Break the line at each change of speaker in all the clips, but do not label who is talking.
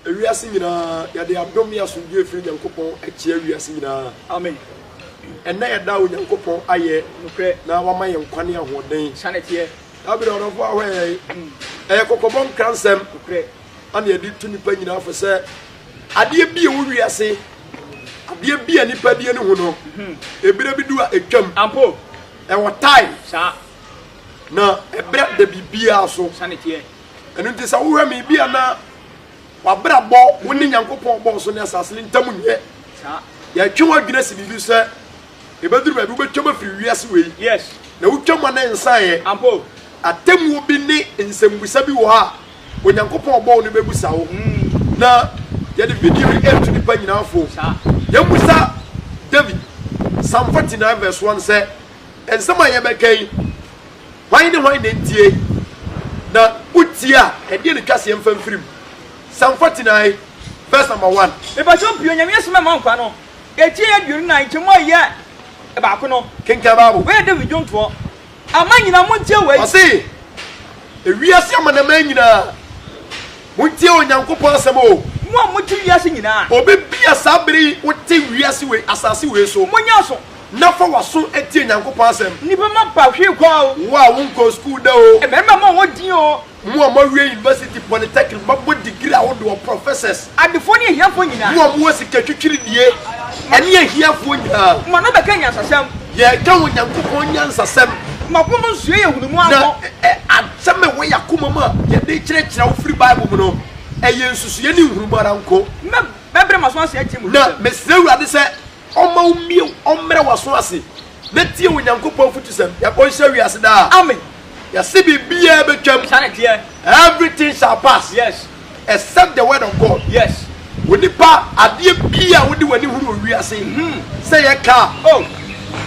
Ewiase nyinaa, yɛde adom ne asomdwoe firi Nyankopɔn akyia wiase nyinaa. Amen.
Ɛnnɛ
yɛda Onyankopɔn ayɛ Nokorɛ. na wama
yɛn nkwa ne
ahoɔden. Sane teɛ. Dabi,
na ɔdɔfo
ahoɛ yɛ ye. Ɛyɛ kɔkɔbɔ nkransɛm ana
yɛde to
nipa nyinaa fo sɛ adeɛ bi ɛwɔ wiase adeɛ bi a nipa deɛ ne ho no ebire bi du a ɛtwam ampo ɛwɔ
tae
saa
na
ɛbrɛ da biribiara so ɛno
nti sɛ
wohwɛ me bi a na W'abrabɔ wo ne Nyankopɔn ɔbɔɔ ɔsoro ne asase no ntam nyɛ saa. Yɛtwe
w'adwene
si biribi sɛ ɛbɛduru baabi wobɛtwam afiri wiase wei na wotwam
a na
ɛnsaeɛ.
Atemmuo bi
ne nsɛmmisa bi wɔ hɔ a Onyankopɔn a ɔbɔɔ wo no bɛbisa wo. Na yɛde video yi retu nnipa nyinaa fo. Yɛmmisa David, Psalm 49 vs 1 sɛ, Nsɛm a yɛbɛka yi. Hwan ne hwan na entie na wotie a, ɛdeɛn na twa seɛ mfa mfiri mu? Psalm 49 verse number 1. Mepakyɛw pii Onyame
asɛm a ɛma nkwa no, ɛkyɛn aduonu na nkyɛmu a ɛyɛ baako no. Kenkan Bible. Wei yɛ David
dwontoɔ.
Aman nyinaa montie wei. Ɔse,
Ewiase amanaman nyinaa, montie Onyankopɔn asɛm o. Mo a mote wiase
nyinaa. Obi bi a saa
bere yi wote wiase wei, asase wei so. Monyɛ aso. Na
fa w'aso
tie Nyankopɔn asɛm. Nnipa mma pa hwee
kwa o. Wo a wonkɔɔ sukuu da
o. Mmarima mma wɔn din o.
Mo a moawie
university, polytechnic, moabɔ degree ahodoɔ, professors. Adefoɔ ne ahiafoɔ
nyinaa. Mo a mowɔ sika twitwiridie,
ɛne ahiafoɔ nyinaa. Ma no bɛka nyansasɛm.
Yɛreka Onyankopɔn
nyansasɛm. Ma wɔn nsuo
yɛ nhunumu ano. Na asɛm a ɛwɔ
yɛn akomam a yɛde rekyerɛkyerɛ wo firi Bible mu no, ɛyɛ nsusuiɛ ne nhunumu ara nko. Mɛbrɛ m'aso
ase atie mo nsɛm. Na mesrɛ Awurade
sɛ Ɔmma wo mmue wo, ɔmmrɛ w'aso ase na tie Onyankopɔn afutusɛm. Yɛakɔ nhyira wiase daa. Amen. Yɛse
biribiaa
bɛtwam. Saa na ɛteɛ.
Everything shall
pass. Yes. Except
the word
of God. Yes.
Onipa,
adeɛ biaa wode w'ani hunu wɔ wiase, sɛ ɛyɛ car, Oh.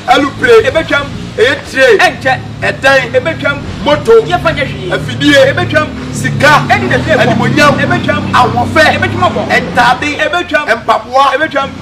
alupre,
Ɛbɛtwam.
ɛyɛ train, Ɛnkyɛ.
ɛdan,
Ɛbɛtwam.
moto,
Yɛmfa nyɛ
hwee. afidie,
Ɛbɛtwam.
sika,
Ɛne na
ɛfiri ɛfam. animuonyam, Ɛbɛtwam. ahoɔfɛ,
Ɛbɛtwam abɔ.
ntaade,
Ɛbɛtwam.
mpaboa,
Ɛbɛtwam.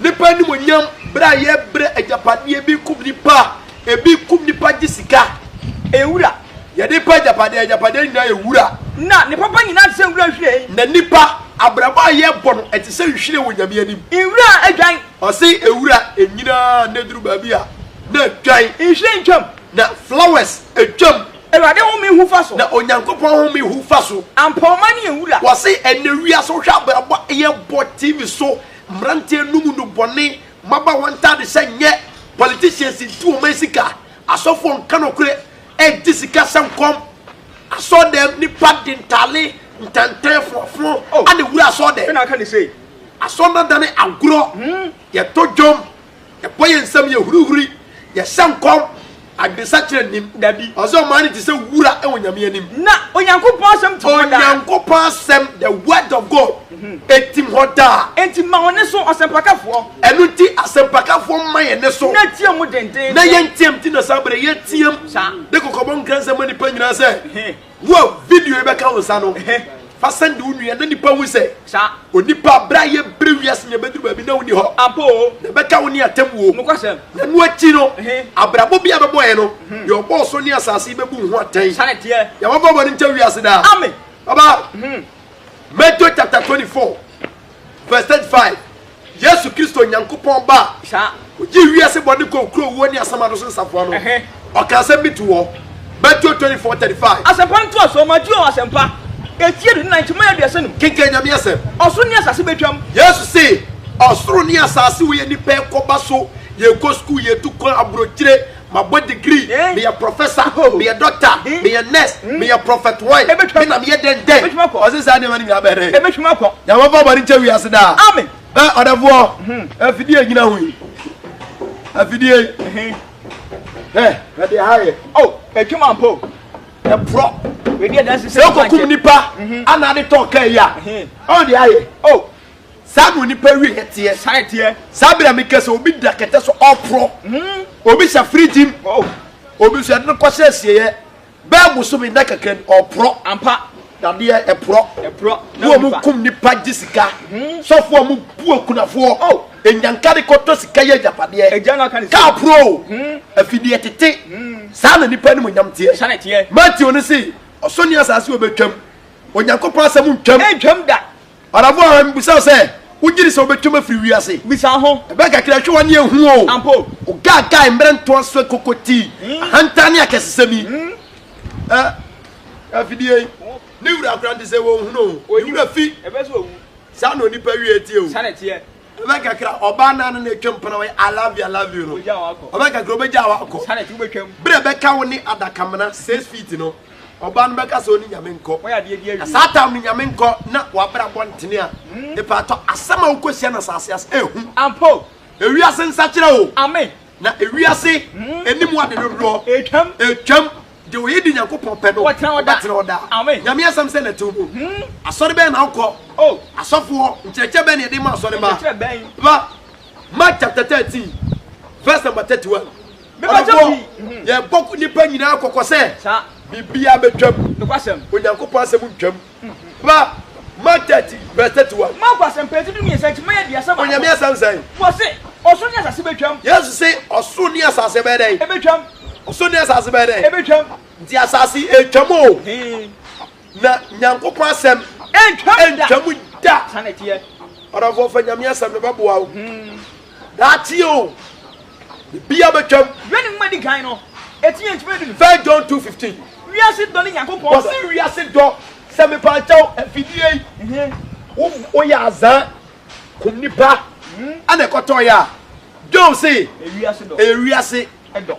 Nnipa animuonyam bere a yɛbrɛ agyapadeɛ ebi kum nnipa ebi kum nnipa gye sika. Ɛyɛ wura.
Yɛde pɛ
agyapadeɛ agyapadeɛ nyinaa yɛ wura. Na ne papa nyinaa
te sɛ nwura nhwiren. Na nnipa
abrabɔ a yɛbɔ no ɛte sɛ nhwiren wɔ Nyame anim. Nwura a adwan.
Ɔse nwura
nyinaa na ɛduru baabi a na adwan. Nhwiren twam.
Na flowers
twam. Awurade home hu
fa so. Na Onyankopɔn home
hu fa so. Ampɔmma ne yɛ nwura.
Ɔse ɛnɛ wiase
wohwɛ abrabɔ a yɛbɔ TV so Mmeranteɛ num no bɔne mmabaawa ntaade sɛ nyɛ politicians nti wɔn ayɛ sika asɔfoɔ nka nɔkorɛ ɛgye sika sɛ nkɔm asɔɔ dɛm nipa de ntaale ntantan foɔfoɔ oh. ane wura asɔɔ dɛm asɔɔ
nadane
agorɔ hmm. yɛtɔ dwom Yɛbɔ yɛn nsam, yɛhurihuri, yɛhyɛ nkɔm, adwensakyera nnim. Dabi. Ɔse ɔmaa no te
sɛ
wura wɔ Nyame anim. Na Onyankopɔn
asɛm tim hɔ daa. Onyankopɔn asɛm,
the word of God, ɛtim hɔ daa. Enti ma wo neso,
ɔsɛmpakafoɔ. Ɛno nti
asɛmpakafoɔ mma yɛn neso. Na team mu dendeenden.
Na yɛnteam. Nti na
saa berɛ yɛteam. Saa. De kɔkɔbɔ
nkransɛm
ma nnipa nyinaa sɛ. Wo a video yi bɛka wo nsa no, fa sɛnde wo nua na nnipa nhu sɛ onipa a
bere a
yɛrebrɛ wiase nyinaa bɛduru baabi na wonni hɔ, na ɛbɛka wo
ne atemmuo.
Na ɛno
akyi no,
abrabɔ bi a ɛbɛbɔ yɛn no, deɛ ɔbɔɔ soro ne asase yi bɛbu wo ho atɛn. Yɛn mmɔbɔ
bɔne nkyɛ
wiase daa. Baba, Matthew chapter 24. vs 35, Yesu Kristo, Nyankopɔn Ba a ogyee
wiase bɔne
kɔɔ kuro, wuo ne asamado so nsafoa no, ɔka asɛm bi to hɔ. Mateo 24, 35. Asɛmpa ntoasoɔ,
Mateo Asɛmpa, ɛti aduonu nan, kyema aduasa num. Kenkan Nyame Asɛm.
Ɔsoro ne asase bɛtwam.
Yesu se,
Ɔsoro ne asase wɔ yɛ nnipa ɛkɔba so, yɛkɔ sukuu, yɛtu kwan, aburokyire, Mabɔ degree, meyɛ prɔfɛsa, meyɛ dɔkta, meyɛ nɛs, meyɛ prɔfɛt wɔn, me na meyɛ dɛn dɛn? Ɔse saa nneɛma no nyinaa bɛyɛ dɛn? Nyame mfa
bɔne nkyɛ wiase
daa. Ɛ ɔdɛfoɔ, afidie a ɛgyina ho yi, afidie yi, hwɛ, hwɛ deɛ ha yɛ. O, ɛtwam ampa
o, ɛporɔ.
Sɛ wokɔkum nipa anaa de tɔn kaa
yi
a, ɔn deɛ ayɛ. Saa na onipa wieɛ teɛ. Saa na ɛteɛ. Saa bere a meka sɛ obi da kɛtɛ so ɔporɔ, obi hyɛ firigyim, obi nso yɛde no kɔhyɛ asieeɛ bɛyɛ bosome nna kakra ni, ɔporɔ. Ampa, dadeɛ,
ɛporɔ.
Ɛporɔ. Na wɔn kum nnipa gye sika. Sɔfoɔ mu bu akunafoɔ. Nnyanka de kɔtɔ sika yɛ agyapadeɛ. Agya no aka ne sɛ. Kaa porɔ o. Afideɛ tete. Saa na nnipa animuonyam teɛ. Saa na ɛteɛ. Mateo no se, Ɔsoro ne asase wɔ bɛtwam. Onyankopɔn asɛm ntwam. Ɛntwam da. Ɔdamfo
a mibisaw
sɛ, Wugye di sɛ wobetwam afiri wiase? Bisa ho. Ɛbɛn
kakra hwɛ w'ani
ehu o. Ampa o. Ogaagae,
mmere
ntoaso akokoti, ahantan ne akɛsesɛm yi. Ɛ, afidie yi, ne wura koraa nte sɛ wɔnhu no o. Ne wura fi.
Saa na onipa wiei
teɛ o. Saa na ɛteɛ. Ɔbɛn
kakra
ɔbaa naa no na atwa mu pana wɔyɛ I love you I love you no ɔbɛn kakra ɔbɛgya wa akɔ berɛ
bɛka wo ne
adakamena six feet no ɔbaa no bɛka sɛ ɔne nyame nkɔ na saa
tam no nyame nkɔ
na wabra bɔ ntene a ɛpaatɔ hmm. asɛm a wokɔsia na saase ase ɛhu ampo
ewiase
nsakyerɛ o na
ewiase
hmm. anim ade dodoɔ ɛtwam Deɛ ɔyɛ di Nyankopɔn pɛ no, Ɔbɛtena hɔ daa. ɔbɛtena hɔ daa. Amen. Nyame asɛm sɛ na
ɛte wo mu.
Asɔre bɛn na wokɔ? Oh. Asɔfoɔ nkyerɛkyerɛ bɛn na yɛde ma asɔre mma? Nkyerɛkyerɛ bɛn? Ba, Mark chapter thirteen verse number thirty one. Me ba kyɛ Ɔdɔfoɔ, pii. Mhm. yɛbɔ nnipa nyinaa kɔkɔ sɛ, Saa. biribiara bɛtwam. Nokwasɛm. Onyankopɔn
asɛm
ntwam. Ba, Mark thirty verse thirty one. Marko asɛmpati dumiɛnsa akyi mma
aduasa baako. Onyame asɛm sɛn? Wɔse, Ɔsoro ne asase bɛtwam. Yesu se, Ɔsoro
ne asase bɛyɛ dɛn? Ɛbɛtwam. Ɔsoro
ne asase
bɛyɛ dɛn? Ɛbɛtwam. Nti
asase
ɛretwam o. Na Nyankopɔn asɛm ɛntwam da. Saa na ɛteɛ.
Ɔdɔfoɔ fa
Nyame asɛm no bɛboa wo. Daakye o, biribiara bɛtwam. Wiɛ ne nwoma a edi kan no,
eti yɛ nkyima edu. First John two fifteen.
Wiase dɔ ne
Nyankopɔn dɔ. Wɔsi wiase dɔ
sɛ mepakyɛw afidie yi. Wo woyɛ azaa kum nipa ɛna ɛkɔtɔɔyɛ a, John se ɛyɛ wiase dɔ.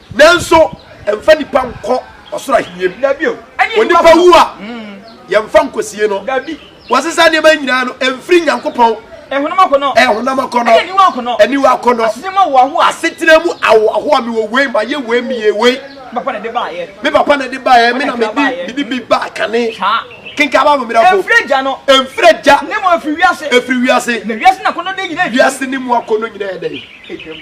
Nanso ɛmfa nnipa nkɔ ɔsoro ahenni mu. Onipa
wu a,
yɛmfa nkosie no. Wɔsesa
nneɛma nyinaa
no, ɛmfiri Nyankopɔn.
Ɛyɛ honam akɔnnɔ,
aniwa akɔnnɔ, asetena
mu ahoɔhoa.
Mewɔ wei, mayɛ wei, meyɛ wei.
Me papa na ɛde baeɛ,
me na mede bi ba kane. Kenkan Bible mmerɛfo. Ɛmfiri agya no. Ɛmfiri
agya. Ne mu
ɛfiri wiase.
Ɛfiri wiase. Na wiase na akɔnnɔdeɛ nyinaa
ɛtwam.
Wiase ne mu akɔnnɔ
nyinaa ɛdɛn? Ɛtwam.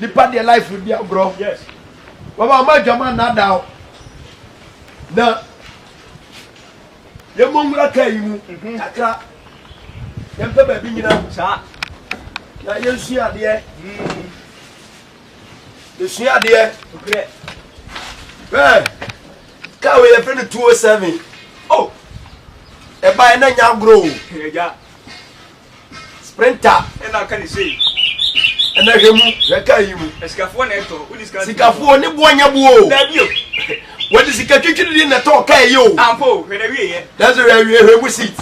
Nipa deɛ life no di agorɔ. Yes.
Baba ɔma
adwama nnaadaa o. Na yɛmmɔ nwura kaa yi mu mhm. kakra. Yɛmpɛ baabi nyina. Saa.
Na
yɛnsua adeɛ. Mm. Yɛsua adeɛ. Nokorɛ. Bɛɛ. Kaa wei yɛfrɛ no 207. Oh. Ɛbaeɛ na nya agorɔ o. Ɛgya.
Sprinter
ɛna aka ne sei.
Ɛna hwɛ
mu, hwɛ kaa yi mu. Asikafoɔ na ɛtɔ, wodi
sika. Sikafoɔ ne boɔ nyɛ
boɔ o. Dabi o.
Wɔde sika
twitwiri di na ɛtɔ kaa yi o. Ampo, hwɛ
na wie yɛ. Nanso hwɛ awie hwɛ mu
seat.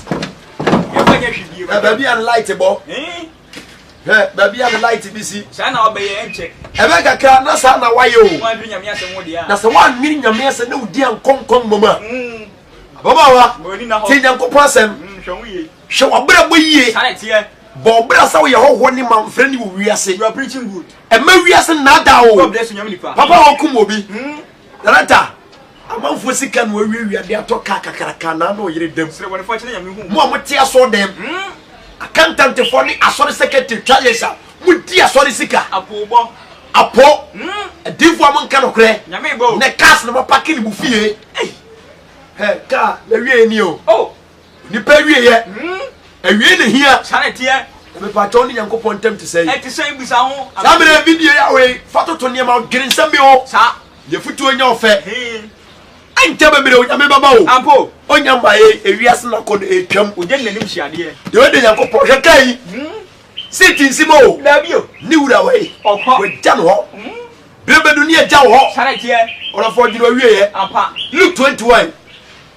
Yɛfa
nyɛ hwɛ bie. Baabi a ne light bɔ.
Eh? Hwɛ baabi a ne light bi si. Saa na ɔbɛyɛ
ɛnkyɛ. Ɛbɛ kakra na
saa na wayɛ o. Wɔn adwiri nyame asɛm wo
deɛ. Na sɛ wɔn adwiri nyame asɛm
na odi ankɔnkɔn mɔmɔ a. Mm. Ababaawa. Ti nyankopɔn asɛm. Mm, hwɛ ho yie. Hwɛ
w'abrabɔ yie.
Bɔ
wo bra sɛ woyɛ
hɔhoɔ ne mamfrani wɔ wiase. Mma
wiase
nnaadaa wo. Papa a
ɔkum obi.
Darata, amanfoɔ sika na wawiawia de atɔ kaa kakraka na na ɔyere dam. Mo
a mote asɔɔ dɛm.
Akantantefoɔ ne asɔre sekretary twa yɛs a modi asɔre sika.
Apɔ.
Adiifoɔ a monka nokorɛ. Nɛ cars
na mapake ne
mo fie. Hɛ kaa na wie ni o. Nipa awieɛ, awiei na ehia. Saa na ɛteɛ. Na
mepatwa wo ne
Nyankopɔn ntam te sɛn? Ɛte sɛn? Bisa ho.
Saa mmerɛ yi, bibie Yahweh,
fa toto nneɛma, dwene nsɛm bi ho. Saa. Yɛ
futuo
nyɛ ɔfɛ. Ɛnkyɛ bebree Onyame bɛba o. Ampa o. Onya mmaeɛ
yi,
ewiase no akɔ no ɛretwam. Ogya ne n'anim hyiadeɛ.
Deɛ ɔyɛ dɛ Nyankopɔn,
hwɛ kaa yi. Seat nsi mu o. Daabi o. Ne wura
wei.
Ɔkɔ. Wagya no hɔ. Berɛ bɛdu ne agya wo hɔ. Saa na ɛteɛ. Ɔdɔfoɔ
dwene w'awieɛ.
Ampa. Luke
21.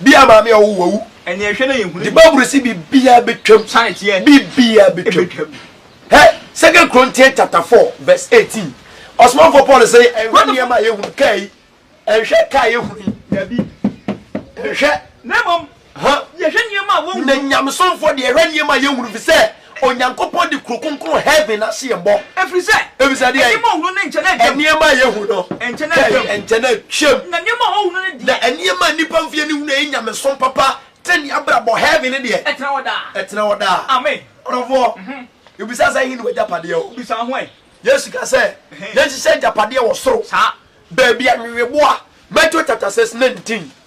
Bi a maame
a ɔwo wawu. Ɛneɛ hwɛ na yɛ hunu bi.
Di baburu si bi bi
a betwam. Sane teɛ. Bi bi
a betwam.
Hɛ, Second Chrontian chapter four verse eighteen. Ɔsomanfoɔ Paul se, Ɛnhwɛ nneɛma a yɛ hunu, kaa yi. Ɛnhwɛ kaa yɛ hunu yi. Dabi.
Ɛnhwɛ.
Na mmom,
yɛ hwɛ nneɛma a wɔn hunu. Na Nyamesomfoɔ deɛ,
ɛhwɛ nneɛma a yɛ hunu, fisɛ. Onyankopɔn de kuro kronkron heaven no ase mmɔ. Ɛfiri sɛ. Ɛfiri sɛ
deɛn? Nneɛma a ɔhunu
no nkyɛ na
atwam. Nneɛma a yɛhu no.
Nkyɛ na atwam.
Nkyɛ na atwam. Na
nneɛma a ɔhunu no
deɛ. Na nneɛma a nnipa
mfeɛ no hunu a ɛyɛ nyamesom papa, tenenee abrabɔ, heaven no deɛ. Ɛtena hɔ daa. Ɛtena hɔ daa. Amen. Ɔdɔfoɔ, yɛbisa sɛ ɛhe ne w'agyapadeɛ wɔ? Bisa ho ɛ.
Yesu ka sɛ
yɛnhyehyɛ agyapadeɛ wɔ soro. Saa. Baabi
a nweweboa,
Matthew chapter 6 19.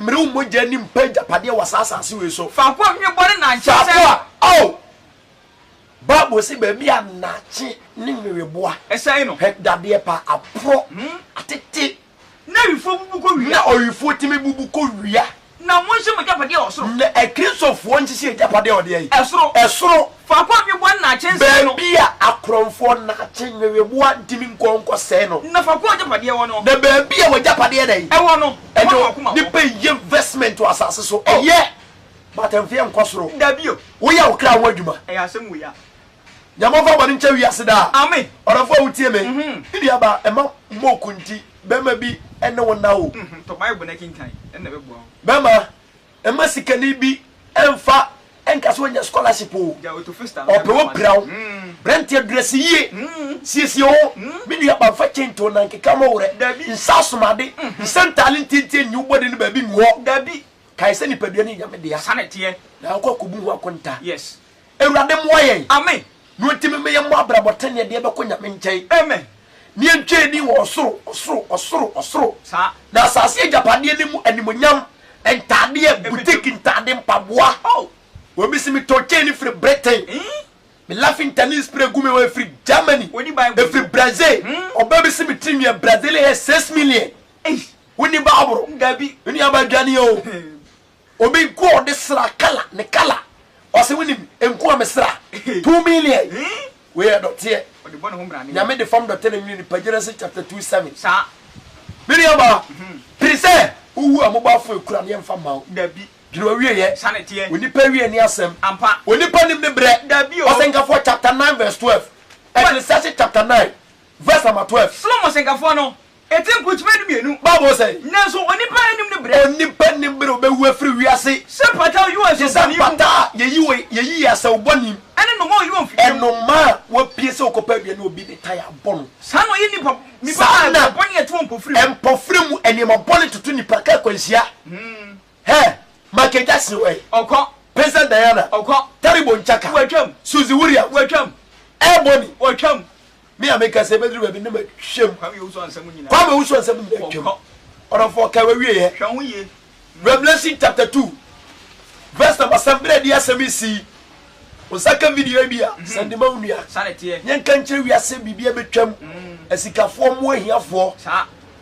Mmere
wo mogya ni mpa agyapadeɛ wɔ saa asase wei so. Faako a hwene bɔne na nkye
sɛ. Faako a, oh!
Bible se baabi a nnakye ne nweweboa. Ɛsɛe no. Hwɛ
dadeɛ pa, aporɔ,
atete. Na awifoɔ
bubu kɔ wia. Na owifoɔ tumi bubu
kɔ wia. Na monhye mo
agyapadeɛ wɔ soro. Na Akristofoɔ
nhyehye agyapadeɛ wɔ deɛn? Ɛsoro. Ɛsoro.
Faako a nweboa nnaakye nsɛe no. Baabi a akorɔmfoɔ
nnaakye nweweboa ntumi nkɔ nkɔsɛe no. Na faako a w'agyapadeɛ wɔ no.
Na baabi a w'agyapadeɛ
dɛn. Wɔ no, ɛhɔ na w'akoma wɔ.
Nnipa nyɛ
investment wɔ asase so. Oh. Ɛyɛ, but ɛmfeɛ nkɔ soro. Dabi o. Woyɛ wo
kra ho
adwuma. Ɛyɛ asɛm wei a.
Nyame ɔmfa
bɔne nkyɛ wiase daa. Amen. Ɔdɔfoɔ a wotie
me.
Me nua ba, mma mmɔ okunti, barima bi ne wo nna o. Tɔ Bible na kenkan,
ɛnna ɛbɛboa wo. Bɛma,
Mma sikani bi mfa nka sɛ wanya scholarship o. Ɔpɛ wo
pira wo.
Branteɛ dress yie. Siesie wo ho. Me nua ba mfa chain to wo nan keka mo werɛ. Nsa asomade. Nsa ntaale ntiantia nyi wo bɔde no baabi ngu hɔ. Kae sɛ
nipadua no
yɛ Nyame dea. Na wokɔ
akɔbu ho
akonta. Awurade
mmoa yɛn.
Amen. Nea otumi
ma yɛmmɔ
abrabɔ teneneɛ deɛ bɛkɔ Nyame nkyɛn. Amen. Ne
yɛntwa ani
wɔ ɔsoro, ɔsoro, ɔsoro, ɔsoro, Saa. na
asase agyapadeɛ
no mu animuonyam ntaadeɛ, Ɛbɛtwa mu. boutique ntaade, mpaboa. Oh. Obi se metɔɔ chain firi Britain, Eii. me laughing tanning spray gu me hɔ ɛfiri Germany, Wonni Bible ɛfiri nti. Brazil, Hmm. ɔbaa bi se me tirinwi yɛ Brazilian hair six million. Eii. Wonni Bible? Dabi. Me nuabaa
dwane o.
Obi nko a ɔde sra kala ne kala ɔse wonim nko a me sra two million wei yɛ dɔteɛ
nyame de fam dɔte na nwini
nipa Genesis chapter two seven
me nua baa
pere sɛ wowu a mobɔ afo ekura ne yɛmfa mma wo dwene owie
yɛ
onipa awie
ne asɛm
onipa nim
ne brɛ
ɔsɛnkafoɔ
chapter nine
verse twelve ɛkirisahyɛ chapter nine verse number twelve Solomon sɛnkafoɔ no
Enti nkrukyiba no mmienu. Bible sɛ. Nanso
onipa nnim
ne berɛ. Onipa nnim bere a ɔbɛwu
afiri wiase. Sɛ mpata a ɔyi wɔ nsɔw
bɔne mu. Te sɛ mpata a yɛyi
wɔ yɛyi yɛ asau bɔne mu. Ɛne nnoma a ɔyi wɔ mfidie
mu. Nnoma a
wɔapue
sɛ
wɔkɔpɛ aduane a obi de
tae
abɔ no. Saa
na
ɔyɛ nnipa
bɔne
a ɛtɔ mpofire mu. Saa na mpofire mu nneɛma bɔne toto nnipa ka akwanhyia. Hɛɛ! Michael Jackson wɔ he? Ɔkɔ. Princess
Diana?
Ɔkɔ. Terrible
Chaka? Watwam.
Suzy Williams?
Watwam. Ebony?
Watwam.
Me a meka
sɛ ɛbɛduru baabi na matwam. Kwame Owusu Ansɛm
nyinaa. Kwame Owusu Ansɛm nyinaa
twam. Ɔkɔ. Ɔdɔfoɔ kae w'awieɛ. Hwɛ
ho yie. Revelation chapter
two verse number seven berɛ a ɛde asɛm yi si yi, wo nsa ka video yi bi a, sɛn de ma wo nua. Saa na ɛteɛ. Yɛnka nkyerɛ
wiase
biribi abɛtwam, asikafoɔ mmoa ahiafoɔ. Saa.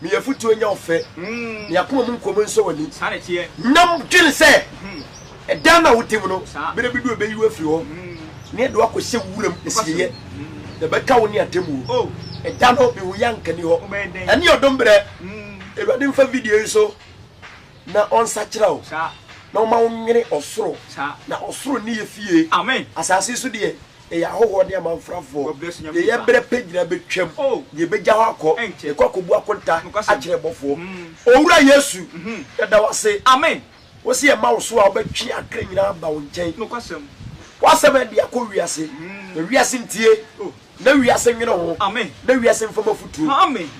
Me yɛ futuo
nyɛ
wo fɛ. Me akoma mu nkɔm nsɔ w'ani. Na
dwene sɛ
ɛda no a wo tem no, berɛ bi du a ɛbɛyi wo afiri hɔ, na yɛde wo akɔhyɛ wuram asieeɛ, na ɛbɛka wo ne atemmuo. Ɛda no,
me huiɛ
anka nni hɔ. Ɛne ɔdom berɛ. Awurade mfa video yi so na ɔnsakyera wo, na ɔma wo
nwene
ɔsoro, na ɔsoro
nni yɛ
fie. Asaase so
deɛ,
Yɛyɛ ahɔhoɔ ne amanfrafoɔ, yɛyɛ berɛ
pɛ nyinaa
bɛtwam, na yɛbɛgya hɔ akɔ, yɛkɔ akɔbu akonta akyerɛ abɔfoɔ. Owura Yesu, yɛda wo ase, wo se
yɛma wo
so a, wobɛtwe akra nyinaa aba wo nkyɛn.
W'asɛm ɛde
akɔ wiase, na wiase ntie, na wiase nwene ho, na wiase mfam
afutuo,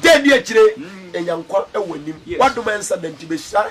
gye ɛdi akyire, yɛnya nkwa wɔ w'anim. W'adom ɛnsa da nti bɛhyira